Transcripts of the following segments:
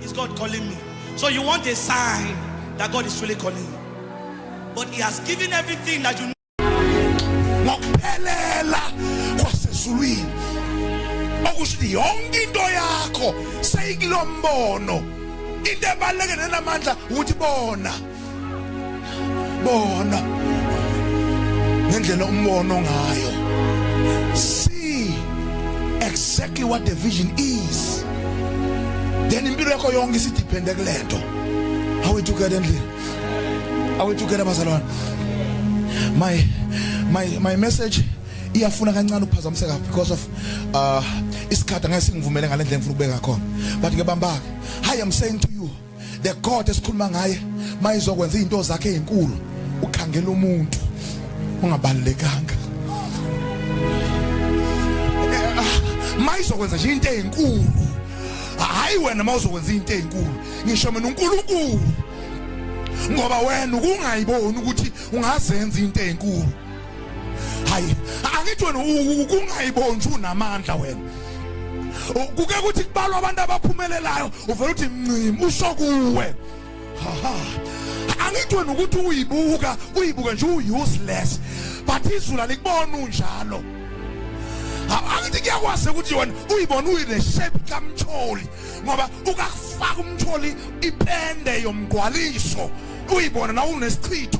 Is God calling me? So you want a sign that God is really calling you. But he has given everything that you need. ngokuphelela kwasezulwini okusho ukuthi yonke into yakho seyikilombono into ebaluleke nenamandla ukuthi bona bona ngendlela umbono ngayo see exactly what the vision is then impilo yakho yonke isidiphende kulento awethukela endlini awethukela abazalwane my my my message iyafuna kancane ukuphazamiseka because of uh isikhathi angeke singivumele ngalendlela engifuna ukubeka khona but ke bambake hi i'm saying to you the god esikhuluma ngaye mayizokwenza izinto zakhe ezinkulu ukhangela umuntu ungabalekanga eh, ah, mayizokwenza nje into ezinkulu hayi wena mawuzokwenza into ezinkulu ngisho mina uNkulunkulu ngoba wena ukungayiboni ukuthi ungazenza into ezinkulu hayi angithi wena kungayibonji unamandla wena kuke kuthi kubalwa abantu abaphumelelayo uvela uthi ncim usho kuwe angithi wena ukuthi uyibuka uyibuka nje u-useless but izulu alikubona unjalo angithi kuyakwazi ukuthi yona uyibona uyile shape kamtholi ngoba ukakufaka umtholi ipende yomgwaliso uyibona na unesichitho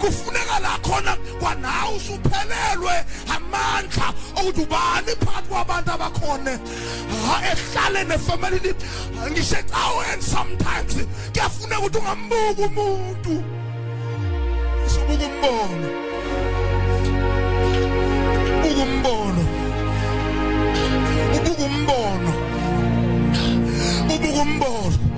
kufuneka la khona kwanawe usuphelelwe amandla okuthi ubani phakathi kwabantu abakhona ehlale nefamilini ngisho ecaweni sometimes kuyafuneka ukuthi ungambuki umuntu usubuka umbono ubuka umbono ubuka umbono ubuka umbono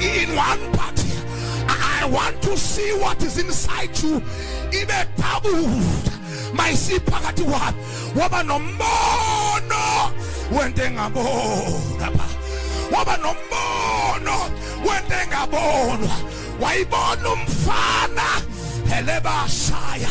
in one part I want to see what is inside you ibe doubled mayisiphakathi wami waba nombono wento engabona ba waba nombono wento engabonwa wayibona umfana helebashaya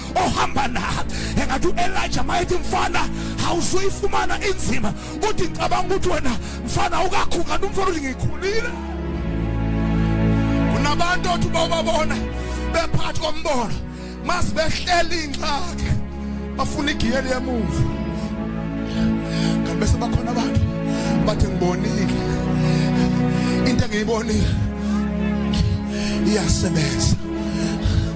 ohamba na engathi u-elija mayethi mfana awuzuyifumana inzima uthi cabanga ukuthi wena mfana ukakhukani umfana uthi ngikhulile kunabantu othi bawubabona bephathi kombono masibehleli ingxaki bafuna igiyeli yemumva kanti bese bakhona abantu bathi ngibonile into engiyibonile iyasebenza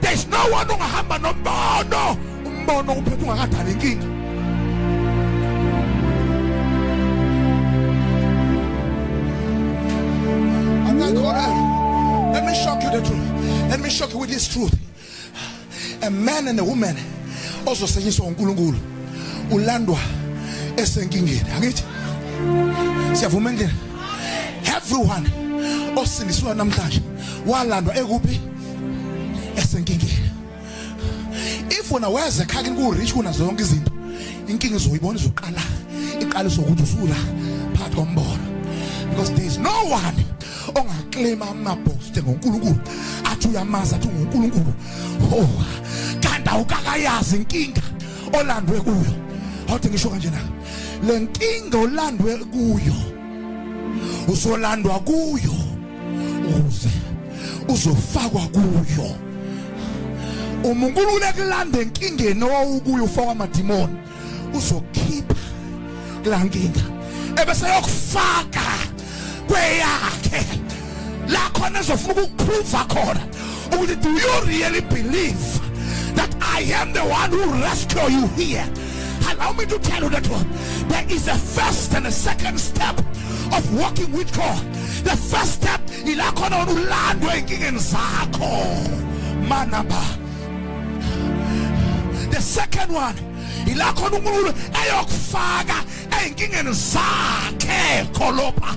there's no one ongahamba nombono umbono uphethe ungakadala inkinga Let me shock you the truth. Let me shock you with this truth. A man and a woman also saying so uNkulunkulu ulandwa esenkingeni angithi siyavuma endlini everyone osindiswa namhlanje walandwa ekuphi esenkingeni if wena weza ekhaya kini ku-rich kuna zonke izinto inkinga izoyibona izoqala iqala izokuthi usula phakathi kombono because there is no one ongaklima amabhoste ngonkulunkulu athi uyamazi athi ungunkulunkulu oh kanti awukakayazi inkinga olandwe kuyo awuthi ngisho kanje na le nkinga olandwe kuyo usolandwa kuyo ukuze uzofakwa kuyo uma uNkulunkulu ekulanda enkingeni owawukuyo ufakwa amadimoni uzokhipha kulankinga ebese yokufaka kweyakhe la khona ezofuna ukukuphruva khona ukuthi do you really believe that I am the one who rescue you here allow me to tell you that one there is a first and a second step of walking with God the first step ila khona wena ulandwe enkingeni zakho manaba the second one ila khona unkulunkulu eyokufaka ezinkingeni zakhe kholopha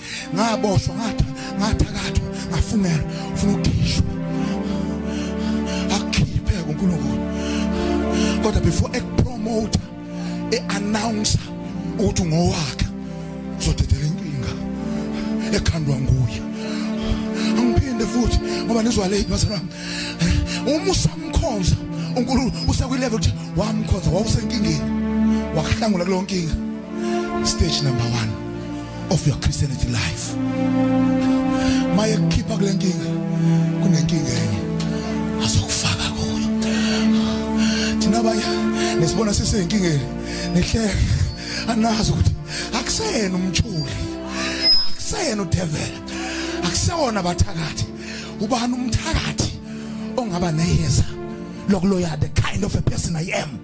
ngaboshwa ngathi ngathakathwa ngafungela ufuna ukukhishwa akhiphe kuNkulunkulu kodwa before ekupromote eannounce ukuthi ngowakhe uzodedela inkinga ekhandwa nguye angiphinde futhi ngoba nizwa late bazalwa uma usamkhonza uNkulunkulu usekwi level ukuthi wamkhonza wawusenkingeni wakuhlangula kulonkinga stage number 1 of your Christianity life maye kukhipha kule nkinga kunenkinga enye azokufaka kuyo thina abanye nesibona siseyinkingeni nihleke anazi ukuthi akusena umthuli akusena udevela akusewona abathakathi ubani umthakathi ongaba neyeza lokuloya the kind of a person i am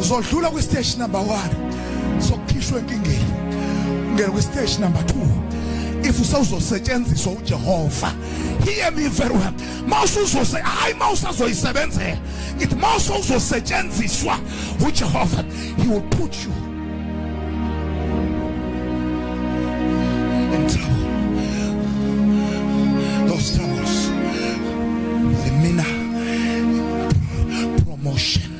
uzodlula kwi stage number 1 sokukhishwa enkingeni ungena kwi stage number 2 if usawuzosetshenziswa uJehova hear me very well mawusuzose hayi mawusazoyisebenzela ngithi mawusozosetshenziswa uJehova he will put you in trouble those troubles the mina promotion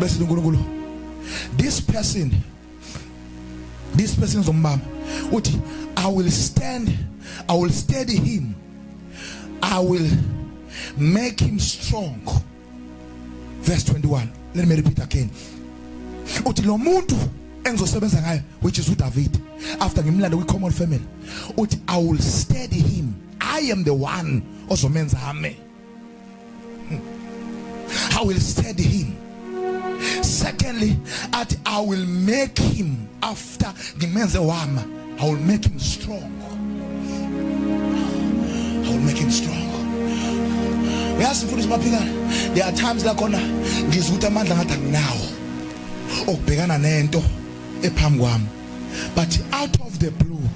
bese uNkulunkulu this person this person zombamba uthi i will stand i will steady him i will make him strong verse 21 let me repeat again uthi lo muntu engizosebenza ngayo which is uDavid after ngimlanda kwi common family uthi i will steady him i am the one ozomenza ame I will steady him secondly athi I will make him after ngimenze wama I will make him strong I will make him strong uyazi mfundisi maphikana there are times la khona ngizwa ukuthi amandla ngathi anginawo okubhekana nento ephambi kwami but out of the blue